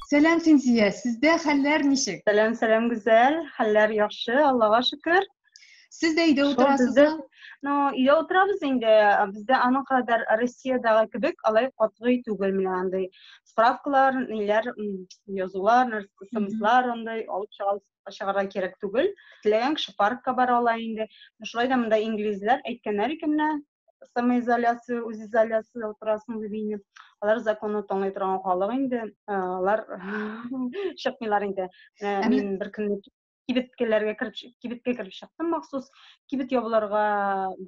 Сәлам Синзия, сездә хәлләр ничек? Сәлам, сәлам Гүзәл, хәлләр яхшы, Аллага шөкер. Сез дә өйдә утырасызмы? Ну, өйдә утырабыз инде. Бездә аның кадәр Россиядәге кебек алай катгый түгел менә андый. Справкалар, ниләр, язулар, смслар андай алып чыгабыз чыгарга кирәк түгел. Теләгән кеше паркка бара ала инде. Шулай да монда инглизләр әйткәннәр икән менә, самоизоляция, үзизоляция утырасың дип инде. Алар законны тыңлый торган халык инде, алар чыкмыйлар инде. Мин бер көнне кибеткәләргә кереп кибеткә кереп чыктым махсус кибет ябылырга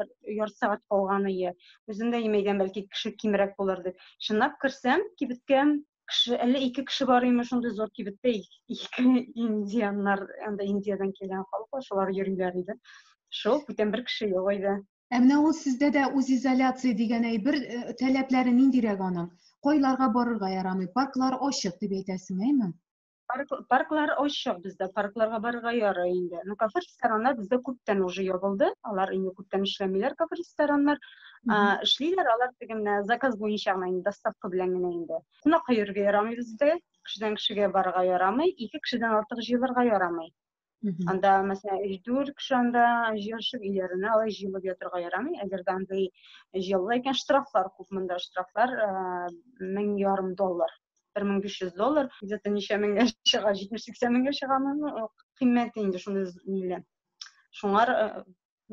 бер ярты сәгать калган ие үзем дә имәйдән бәлки кеше кимрәк булыр дип чынлап керсәм кибеткә кеше әллә ике кеше бар име шундый зур кибеттә ике индианнар анда индиядән килгән халык бар шулар йөриләр иде шул бүтән бер кеше юк иде Ә менә ул сездә дә үзизоляция дигән әйбер э, таләпләре ниндирәк аның? Кайларга барырга ярамый? Парклар ачык дип әйтәсең, әйме? Парк, парклар ачык бездә, паркларга барырга ярый инде. Ну, кафе рестораннар бездә күптән уже ябылды. Алар инде күптән эшләмиләр кафе рестораннар. Эшлиләр алар теге менә заказ буенча гына инде доставка белән генә инде. Кунакка йөрергә ярамый бездә, кешедән кешегә барырга ярамый, ике кешедән артык җыелырга ярамый. Мгм. Анда, мәсәлән, өч дүрт кеше анда җыенышып, өйләренә алай җыелып ятырга ярамый. Әгәр дә андый җыелу икән, штрафлар күп монда. Штрафлар э, мең ярым доллар, бер мең биш йөз доллар. Где-то ничә меңгә чыга, җитмеш сиксән меңгә чыга моның э, кыйммәте инде шундый ниле. Шуңар э,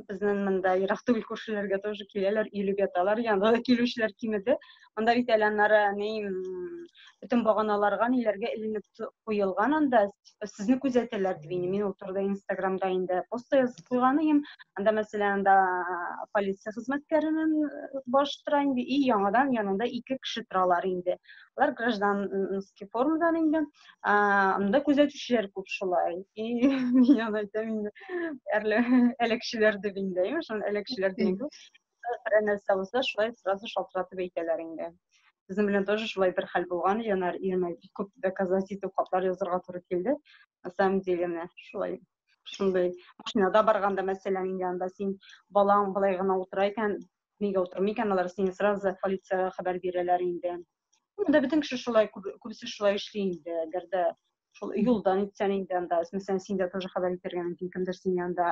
безнең монда ерак түгел күршеләргә тоже киләләр, өйлегә талар, янда да килүчеләр кимеде. Монда бит әле аннары ни бөтен баганаларга ниләргә эленеп куелган анда сезне күзәтәләр дип инде мин ул турыда инстаграмда инде пост язып куйган идем анда мәсәлән анда полиция хезмәткәренең баш тора инде и яңадан янында ике кеше торалар инде алар гражданский формадан инде ә, анда күзәтүчеләр күп шулай и мин аны әйтәм инде әрле әләкчеләр дип инде шул әләкчеләр дигәндә берәр нәрсә булса шулай сразу шалтыратып әйтәләр инде безнең белән тоже шулай бер хәл булган янар иренә бик күп доказать итеп хатлар язырга туры килде на самом деле менә шулай шундай машинада барганда мәсәлән инде анда син балаң былай гына утыра икән нигә утырмый икән алар сине сразу полициягә хәбәр бирәләр инде Монда бөтен кеше шулай, күбесе шулай эшли инде, әгәр дә шул юлдан итсәң инде анда, мәсәлән, син дә тоже хәбәр итәргә мөмкин, кемдер син янда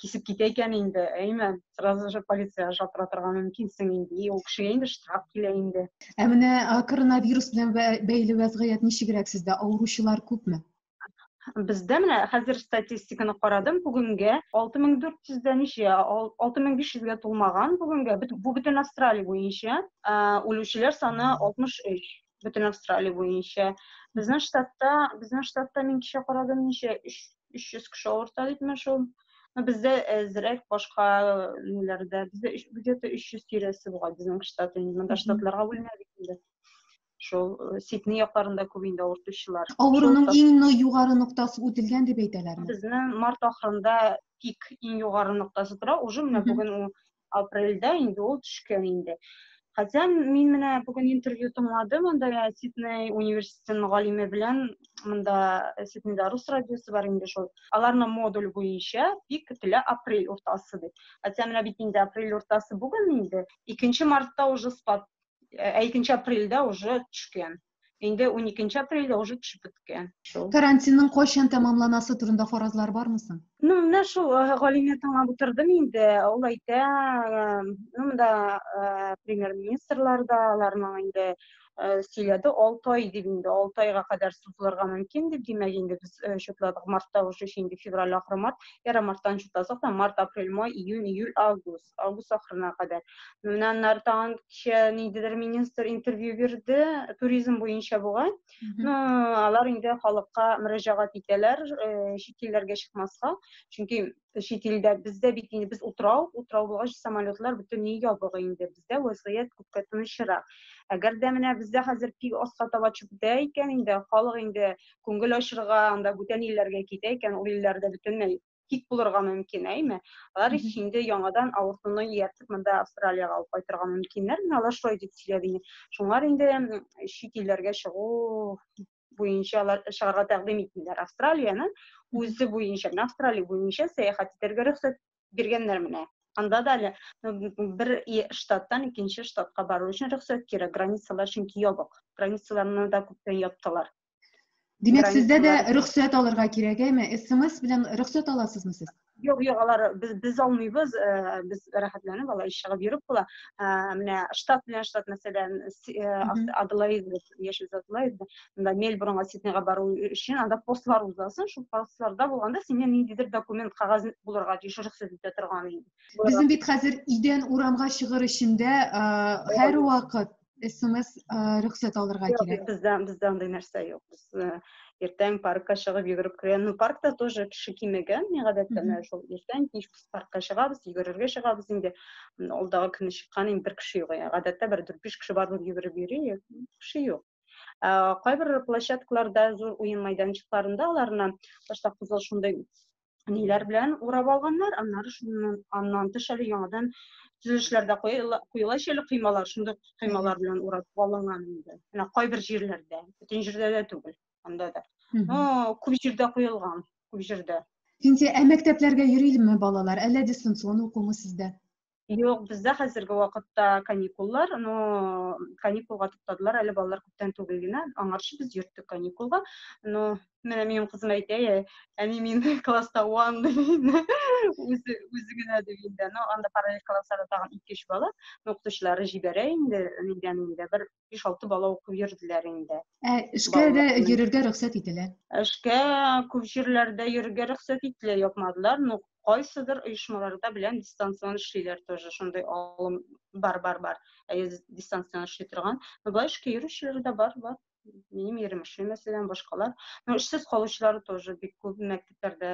кисеп китә икән инде, әйме, сразу же полиция шалтыратырга мөмкинсең инде, и ул кешегә инде штраф килә инде. Ә менә коронавирус белән бәйле вәзгыять ничегрәк сездә? Авыручылар күпме? Бездә менә хәзер статистиканы карадым, бүгенгә 6400 дә ничә, 6500гә тулмаган бүгенгә, бу бөтен Австралия буенча, үлүчеләр саны 63 бөтен Австралия буенча. Безнең штатта, безнең штатта мин кичә карадым, ничә 300 кеше авырта дип менә шул. Но бездә әзрәк башка ниләрдә, бездә где-то 300 тирәсе бугай безнең штат, инде монда штатларга бүленә бит инде. шул э, сидней якларында күп инде авыртучылар авыруның иң югары ноктасы үтелгән дип әйтәләрме безнең март ахырында пик иң югары ноктасы тора уже менә бүген ул апрельдә инде ул төшкән инде хотя мин менә бүген интервью тыңладым анда сидней университетының галиме белән мында э, сиднейда рус радиосы бар инде шул аларның модуль буенча пик көтелә апрель уртасы дип хотя менә бит инде апрель уртасы бүген инде икенче мартта уже спад ә икенче апрельдә уже төшкән инде уникенче апрельдә уже төшеп беткән шул карантинның кайчан тәмамланасы турында фаразлар бармы соң ну менә шул э, галимне тыңлап утырдым инде ул әйтә э, ну монда э, премьер министрлар да аларның инде сөйләде алты ай дип инде алты айга кадәр сузылырга мөмкин дип димәк инде без счетладык мартта уже инде февраль ахыры март яры марттан счетладык март апрель май июнь июль август август ахырына кадәр. Менә аннары тагын кичә ниндидер министр интервью бирде, туризм буенча бугай. Ну, алар инде халыкка мөрәҗәгать итәләр, э, чит илләргә чыкмаска. Чөнки чит илдә бездә бит инде без утрау, утрау булгач самолетлар бөтенләй ябык инде. Бездә вазгыять күпкә тынычрак. Әгәр дә менә бездә хәзер пик аска таба чүптә икән инде, халык инде күңел ачырга, анда бүтән илләргә китә икән, ул илләрдә бөтенләй тик булырга мөмкин, әйме? Алар ич инде яңадан авыртуны ияртеп монда Австралиягә алып кайтырга мөмкиннәр. Менә алар шулай дип сөйләде инде. Шуңар инде чит илләргә чыгу буенча алар чыгарга тәкъдим итмиләр. Австралияне үзе буенча, менә Австралия буенча сәяхәт итәргә рөхсәт биргәннәр менә. Анда да әле бер штаттан икенче штатка бару өчен рөхсәт кирәк. Границалар чөнки ябык. Границаларны да күптән яптылар. Димәк, сездә дә рөхсәт алырга кирәк, әйме? СМС белән рөхсәт аласызмы сез? Юк, юк, алар без без алмыйбыз, э, без рәхәтләнеп алар чыгып йөреп була. Э, менә штат белән штат мәсәлән, э, Аделаид, Яшел Аделаид, монда Мельбурнга, Сиднейга бару өчен анда постлар узасың, шул постларда булганда синнән ниндидер документ кагаз булырга тиеш рөхсәт итә торган инде. Безнең бит хәзер идән урамга чыгыр өчен дә һәрвакыт смс рөхсәт алырга кирәк бездә бездә андый нәрсә юк без иртән паркка чыгып йөгереп керә ну паркта тоже кеше кимегән мин гадәттә менә шул иртән кич без паркка чыгабыз йөгерергә чыгабыз инде алдагы көнне чыккан инде бер кеше юк гадәттә бер дүрт биш кеше бар булып йөгереп йөри кеше юк кайбер площадкаларда зур уен майданчыкларында аларны башта кызыл шундай ниләр белән урап алганнар, аннары шуннан аннан тыш әле яңадан төзелешләрдә куела әле кыймалар, шундый кыймалар белән урап алынган инде. Менә кайбер җирләрдә, бөтен җирдә дә түгел, анда да. Но күп җирдә куелган, күп җирдә. Инде ә мәктәпләргә йөрилме балалар, әллә дистанцион укумы сездә? Юк, бездә хәзерге вакытта каникуллар, но каникулга туктадылар әле балалар күптән түгел генә. Аңарчы без йөрттек каникулга. Но менә минем кызым әйтә, «Э, әни мин класста one ди инде. Үзе үзе генә ди инде. Но анда параллель классларда тагын 2-3 бала, но укытучылары җибәрә инде, нидән инде бер 5-6 бала укып йөрделәр инде. Ә эшкә дә йөрергә рөхсәт ителә. Эшкә күп җирләрдә йөрергә рөхсәт ителә, япмадылар, но кайсыдыр оешмаларда белән дистанцион эшлиләр тоже, шундый алым бар, бар, бар. Әйе, дистанцион эшли торган. Но былай эшкә йөрүчеләр дә бар, бар. Минем ирем эшли, мәсәлән, башкалар. Но эшсез калучылар тоже бик күп мәктәпләрдә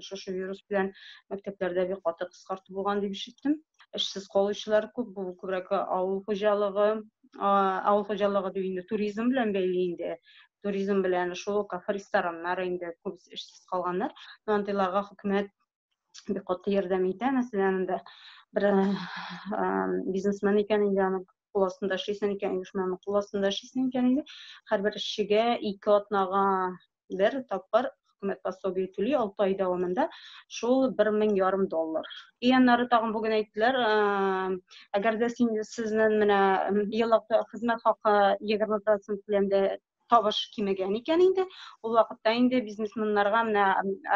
шушы вирус белән мәктәпләрдә бик каты кыскарту булган дип ишеттем. Эшсез калучылар күп, бу күбрәк авыл хуҗалыгы, авыл хуҗалыгы дип инде туризм белән бәйле инде. Туризм белән шул кафе рестораннар инде күп эшсез калганнар. Андыйларга хөкүмәт бик каты ярдәм итә. Мәсәлән, инде бер бизнесмен икән инде аның кул астында эшлисен икән, оешманың кул астында эшлисен икән инде. Һәрбер эшчегә ике атнага бер тапкыр хөкүмәт пособие түли алты ай дәвамында шул бер мең ярым доллар ияннары тагын бүген әйттеләр әгәр дә син сезнең менә еллык хезмәт хакы егерме процент белән дә табыш кимегән икән инде ул вакытта инде бизнесменнарга менә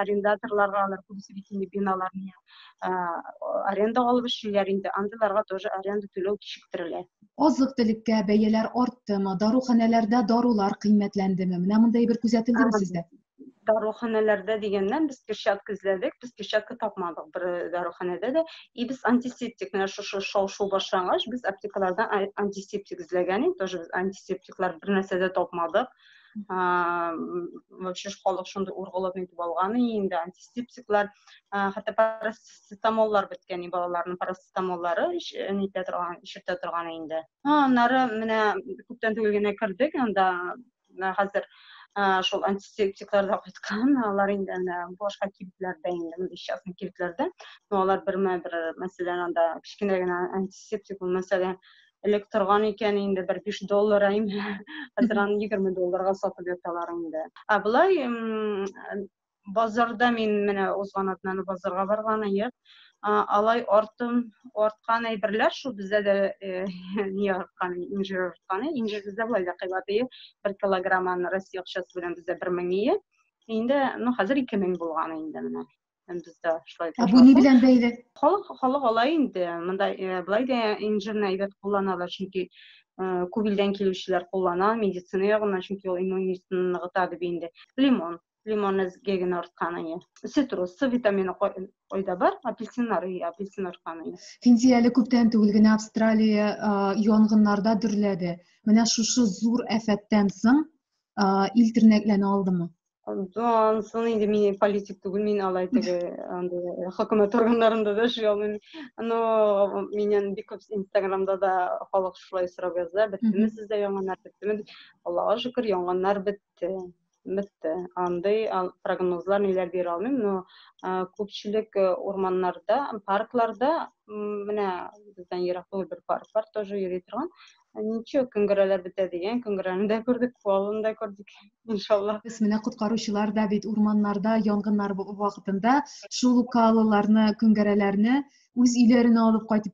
арендаторларга алар күбесе бит инде биналарны аренда алып эшлиләр инде, андыйларга тоже аренда түләү кичектерелә. Азык-төлеккә бәяләр арттымы, даруханәләрдә дарулар кыйммәтләндеме? Менә мондый бер күзәтелдеме сездә? даруханәләрдә дигәннән без перчатка эзләдек без перчатка тапмадык бер э, даруханәдә дә и без антисептик менә шушы шау шу башлангач без аптекалардан антисептик эзләгән идек тоже без антисептиклар бер нәрсә дә тапмадык вообще халык шундый ургылып нитеп алган инде антисептиклар хәтта парацетамоллар беткән и балаларның парацетамоллары нитә торган ишертә торган инде аннары менә күптән түгел генә кердек анда хәзер шул антисептиклар да кайткан алар инде менә башка кибетләрдә инде частный кибетләрдә но алар бермә бер мәсәлән анда кечкенә генә антисептик мәсәлән элек торган икән инде бер биш доллар әйм хәзер аны егерме долларга сатып яталар инде ә болай базарда мин менә узган атнаны базарга барган ек алай артым арткан әйберләр шул бездә дә не арткан инжир арткан инжир бездә болай да кыйбат ие бер килограмм аны россия акчасы белән бездә бер мең ие инде ну хәзер ике мең булган инде менә һәм бездә шулай ә бу ни белән бәйле халык халык алай инде монда э, былай да инжирны әйбәт кулланалар чөнки э, күп илдән килүчеләр куллана медицина ягыннан чөнки ул иммунитетны ныгыта дип инде лимон лимонны геген арткан әйе цитрус с витамины кайда бар апельсиннар и апельсин арткан әйе финди әле күптән түгел генә австралия э, янгыннарда дөрләде менә шушы зур афәттән соң ил тернәкләнә алдымы Дан, сон инде мин политик түгел, мин алай теге андый э, хөкүмәт органнарында да эшли алмыйм. Но миннән бик күп Инстаграмда да халык шулай сорап яза, беттеме сездә яңаннар беттеме? Аллага шөкер, яңаннар бетте. Бетте. Андый прогнозлар ниләр бирә алмыйм, но э, күпчелек э, урманнарда, паркларда, менә бездән ерак түгел бер парк бар, тоже йөри торган, Ничек көңгерәләр бетә дигән, көңгерәне дә күрдек, фуалын да күрдек, иншаллах. Без менә коткаручылар да бит урманнарда янгыннар вакытында шул ук каалыларны, көңгерәләрне үз өйләренә алып кайтып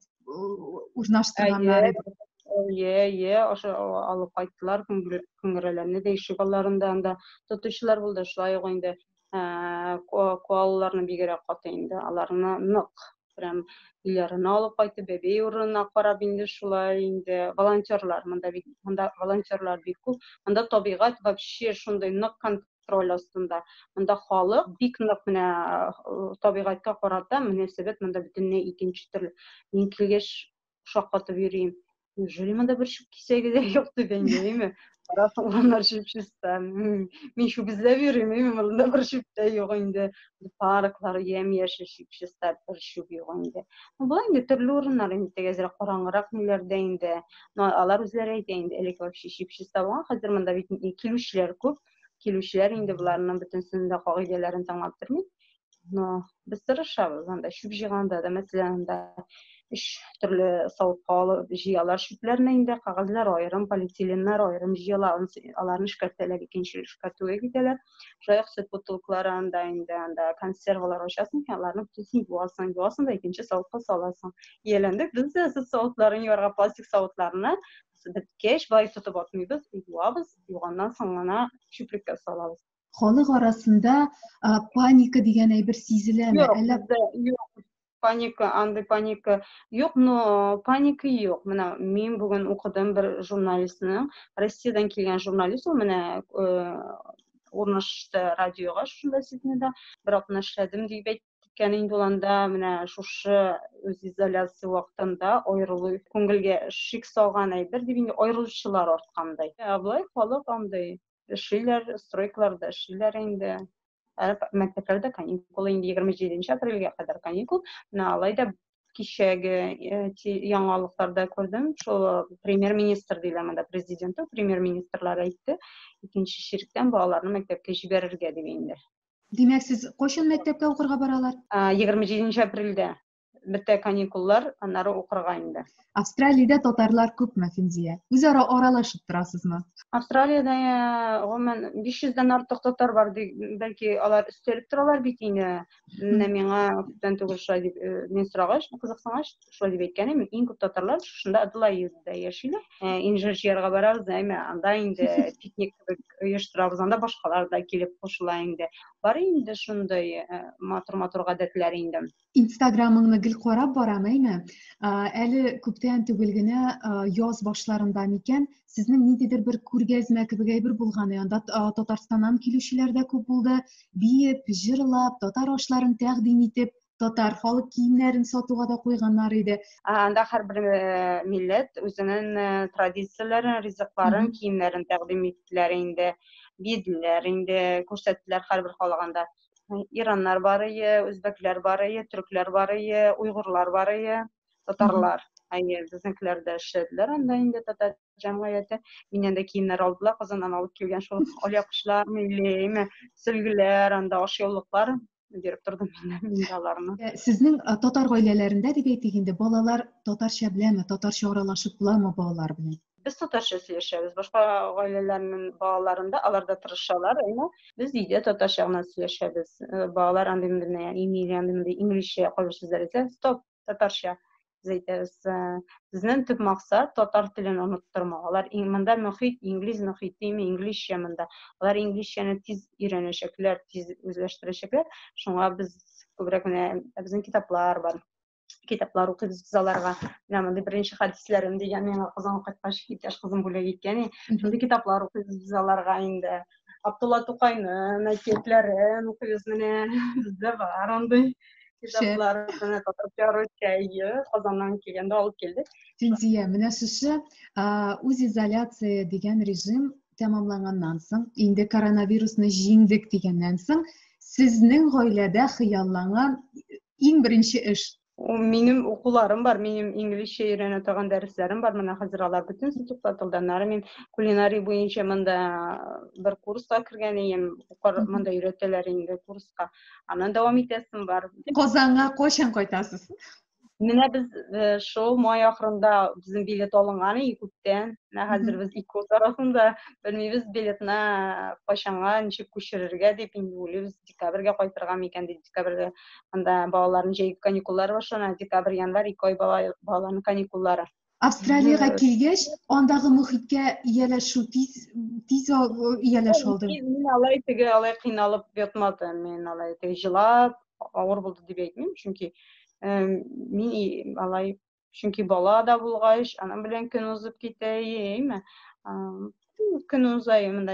урнаштырганнар иде. Әйе, әйе, ошо алып кайттылар, көңгерәләрне дә ишек алларында анда тотучылар булды, шулай ук инде Ә, коалаларны бигерәк каты инде. Аларны нык прям өйләренә алып кайтып, бәбей урынына карап инде шулай инде волонтерлар монда бит монда волонтерлар бик күп. Монда табигать вообще шундый нык контроль астында. Монда халык бик нык менә табигатькә карата мөнәсәбәт монда бөтенләй икенче төрле. Мин килгәч шаккатып йөрим. Неужели монда бер чүп кисәге дә юк дигән яме. Карап алганнар чүп чиста. Мин чүп эзләп йөрим, яме монда бер чүп тә юк инде. Парклар ямь-яшел чүп чиста, бер чүп юк инде. Бу инде төрле урыннар инде тегезрәк караңгырак ниләрдә инде. Но алар үзләре әйтә инде, элек вообще чүп чиста булган, хәзер монда бит килүчеләр күп. Килүчеләр инде боларның бөтенсен дә кагыйдәләрен тыңлап тормый. но без тырышабыз анда чүп җыйганда да мәсәлән анда өч төрле савытка алып җыялар чүпләрне инде кәгазьләр аерым полиэтиленнар аерым җыела аларны эшкәртәләр икенче эшкәртүгә китәләр шулай ук сөт бутылкалары анда инде анда консервалар ачасың икән аларны бөтенесен юасың юасың да икенче савытка саласың ияләндек без дә сөт савытларын юарга пластик савытларны беткәч былай тотып атмыйбыз юабыз юганнан соң гына чүплеккә салабыз халык арасында ә, паника дигән әйбер сизеләме? Юк, Әллә... бездә юк. Паника, андый паника юк, но паника юк. Менә мин бүген укыдым бер журналистның, Россиядән килгән журналист ул менә э, урнашты радиога шунда Сиднейда, бер атна эшләдем дип әйткән инде ул анда менә шушы үз изоляция вакытында аерылу күңелгә шик салган әйбер дип инде аерылучылар арткандай. Ә былай халык андый эшлиләр, стройкаларда эшлиләр инде. Әле мәктәпләрдә каникул инде 27 апрельгә кадәр каникул. Менә алай да кичәге э, яңалыкларда күрдем, шул э, премьер-министр диләр монда, президенты, премьер-министрлар әйтте, икенче чиректән балаларны мәктәпкә җибәрергә дип инде. Димәк, сез кайчан мәктәпкә укырга баралар? 27 апрельдә. бетә каникуллар, аннары укырга инде. Австралиядә татарлар күпме, Финзия? Үзара аралашып торасызмы? Австралиядә гомумән 500 дән артык татар бар, бәлки алар өстәлеп торалар бит инде. Менә миңа күптән түгел шулай дип мин сорагач, кызыксынгач, шулай дип әйткән идем, иң күп татарлар шушында Аделаидада яшиләр. Инжир җыярга барабыз, әмма анда инде пикник кебек оештырабыз, анда башкалар да килеп кушыла инде. Бар инде шундый матур-матур гадәтләр инде. инстаграмыңны гел карап барам әйме әле күптән түгел генә яз башларында микән сезнең ниндидер бер күргәзмә кебек әйбер булган анда татарстаннан килүчеләр дә күп булды биеп җырлап татар ашларын тәкъдим итеп татар халык киемнәрен сатуга да куйганнар иде анда һәрбер милләт үзенең традицияләрен ризыкларын киемнәрен тәкъдим иттеләр инде биеделәр инде күрсәттеләр һәрбер халаганда ираннар бар ие үзбәкләр бар ие төрекләр бар ие уйгурлар бар ие татарлар әйе безнекеләр дә эшләделәр анда инде татар җәмгыяте миннән дә киемнәр алдылар казаннан алып килгән шул алъяпкычлар милли сөлгеләр анда ашъяулыклар биреп тордым мин аларны э, сезнең э, татар гаиләләрендә дип әйтик инде балалар татарча беләме татарча аралашып буламы балалар белән без татарча сөйләшәбез. Башка гаиләләрнең балаларында алар да тырышалар, әмма без өйдә татарча гына сөйләшәбез. Э, балалар андый мендә, ягъни милли андый мендә инглизчә кайбер сүзләр әйтә, стоп, татарча без әйтәбез. Э, безнең төп максат татар телен оныттырмау. Алар монда мөхит, инглиз мөхитеме, инглизчә монда. Алар инглизчәне тиз өйрәнәчәкләр, тиз үзләштерәчәкләр. Шуңа без күбрәк менә безнең китаплар бар. китаплар укыйбыз без аларга менә мондый беренче хәдисләрем дигән миңа казанга кайткач иптәш кызым бүләк иткән шундый китаплар укыйбыз без аларга инде абдулла тукайнын әкиятләрен укыйбыз менә бездә бар андый китаплар менә татарча чәйе казаннан килгәндә алып килдек фидия менә шушы үзизоляция дигән режим тәмамланганнан соң, инде коронавирусны җиңдек дигәннән соң, сезнең гаиләдә хыялланган иң беренче эш? Минем укуларым бар, минем инглизчә өйрәнә торган дәресләрем бар. Менә хәзер алар бөтенесе туктатылды. Аннары мин кулинарий буенча монда бер курска кергән идем. Монда өйрәтәләр инде курска. Аннан дәвам итәсем бар. Казанга кайчан кайтасыз? Менә без э, шул май ахырында безнең билет алынган и күптән. Менә хәзер без ике ут арасында белмибез билетны кайчанга ничек күчерергә дип инде уйлыйбыз. Декабрьгә кайтырга микән дип декабрьгә анда балаларның җәйге каникуллары башлана. Декабрь, январь ике ай бала, балаларның каникуллары. Австралиягә килгәч, андагы мөхиткә ияләшү тиз тиз ияләш алды. Мин алай теге алай кыйналып ятмады. Мин алай теге җылап, авыр булды дип әйтмим, чөнки мин алай чөнки бала да булгач, аның белән көн узып китә, яме. көн уза монда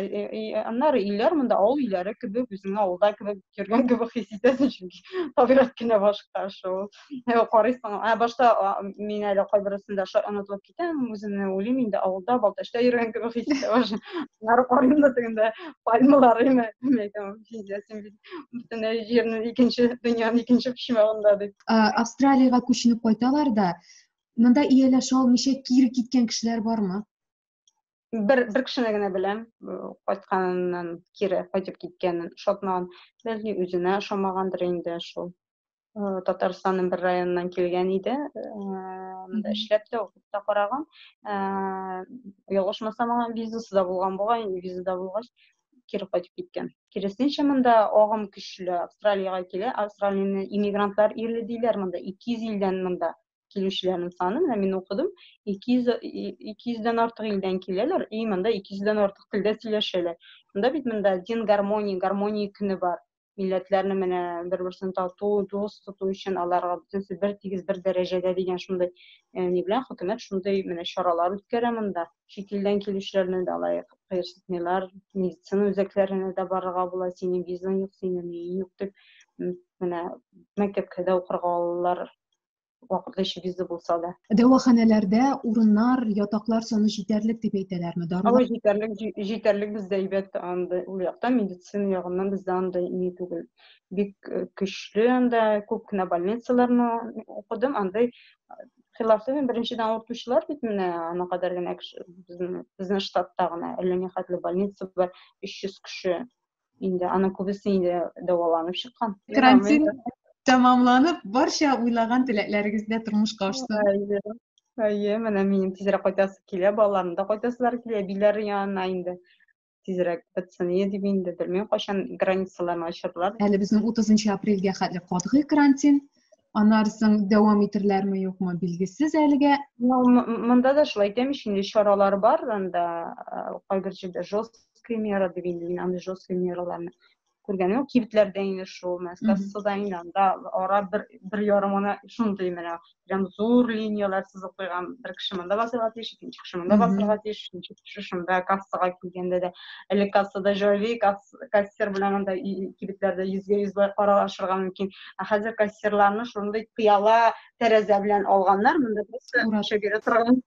аннары өйләр монда авыл өйләре кебек үзеңә авылда кебек йөргән кебек хис итәсең чөнки табигать кенә башка шул карыйсың ә башта мин әле кайберсендә онытылып китәм үземне уйлыйм инде авылда балтачта йөргән кебек хис итә аннары карыйм да тегендә пальмалар име сизәсең бөтенләй җирнең икенче дөньяның икенче почмагында дип австралиягә күченеп кайталар да монда ияләшә алмыйча кире киткән кешеләр бармы бер бер кешене генә беләм кайтканыннан кире кайтып киткәнен ошатмаган бәлки үзенә ошамагандыр инде шул татарстанның бер районыннан килгән иде монда эшләп тә укып та караган ялгышмасам аңа визасы да булган бугай визада булгач кире кайтып киткән киресенчә монда агым көчле австралиягә килә австралияне иммигрантлар иле диләр монда ике йөз илдән монда килүчеләрнең саны, менә мин укыдым, 200, 200-дән артык илдән киләләр, и монда 200-дән артык телдә сөйләшәләр. Монда бит монда дин гармония, гармония көне бар. Милләтләрне менә бер-берсен тату, дус тоту өчен аларга бөтенсе бер тигез, бер дәрәҗәдә дигән шундый э, ни белән хөкүмәт шундый менә чаралар үткәрә монда. Чит илдән килүчеләрне дә алай кыерсытмыйлар. Медицина үзәкләренә дә барырга була, синең визаң юк, синең юк дип менә мәктәпкә дә укырга алалар вакытлы эчү визы булса да. Дәваханәләрдә урыннар, ятаклар саны җитәрлек дип әйтәләрме? Дарулар... Алай җитәрлек, җитәрлек бездә әйбәт андый ул якта медицина ягыннан бездә андый ни түгел. Бик э, көчле анда күп кенә больницаларны укыдым, андый хилафлы мин беренчедән авыртучылар бит менә ана кадәр генә кеше безнең штатта гына әллә ни хәтле больница бар 300 кеше инде аның күбесе инде дәваланып чыккан карантин тәмамланып барча уйлаган теләкләрегез дә тормышка ашсын әйе менә минем тизрәк кайтасы килә балаларым да кайтасылары килә әбиләре янына инде тизрәк бетсен дип инде белмим кайчан границаларны ачырлар әле безнең утызынчы апрельгә хәтле катгый карантин анарсың дәвам итерләрме юкмы билгесез әлегә ну монда да шулай әйтәм ич инде чаралар бар анда кайбер җирдә жесткие меры дип инде мин андый жесткие мераларны күргәнем юк кибетләрдә инде шул мәскәссуда инде анда ара бер бер ярым гына шундый менә прям зур линияләр сызып куйган бер кеше монда басырга тиеш икенче кеше монда басырга тиеш өченче кеше шунда кассага килгәндә дә әле кассада җайлый касса кассир белән анда кибетләрдә йөзгә йөз аралашырга мөмкин ә хәзер кассирларны шундый пыяла тәрәзә белән алганнар монда просто ашап йөри торган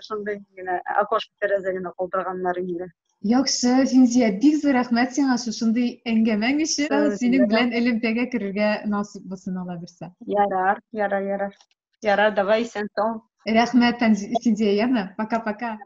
шундый генә окошко тәрәзә генә калдырганнар инде Яхшы, Финзия, бик зур рәхмәт сиңа шушындый әңгәмәң өчен. Синең белән элемтәгә керергә насыйп булсын ала бирсә. Ярар, ярар, ярар. Ярар, давай, исән сау. Рәхмәт, Финзия, яме. Пока-пока.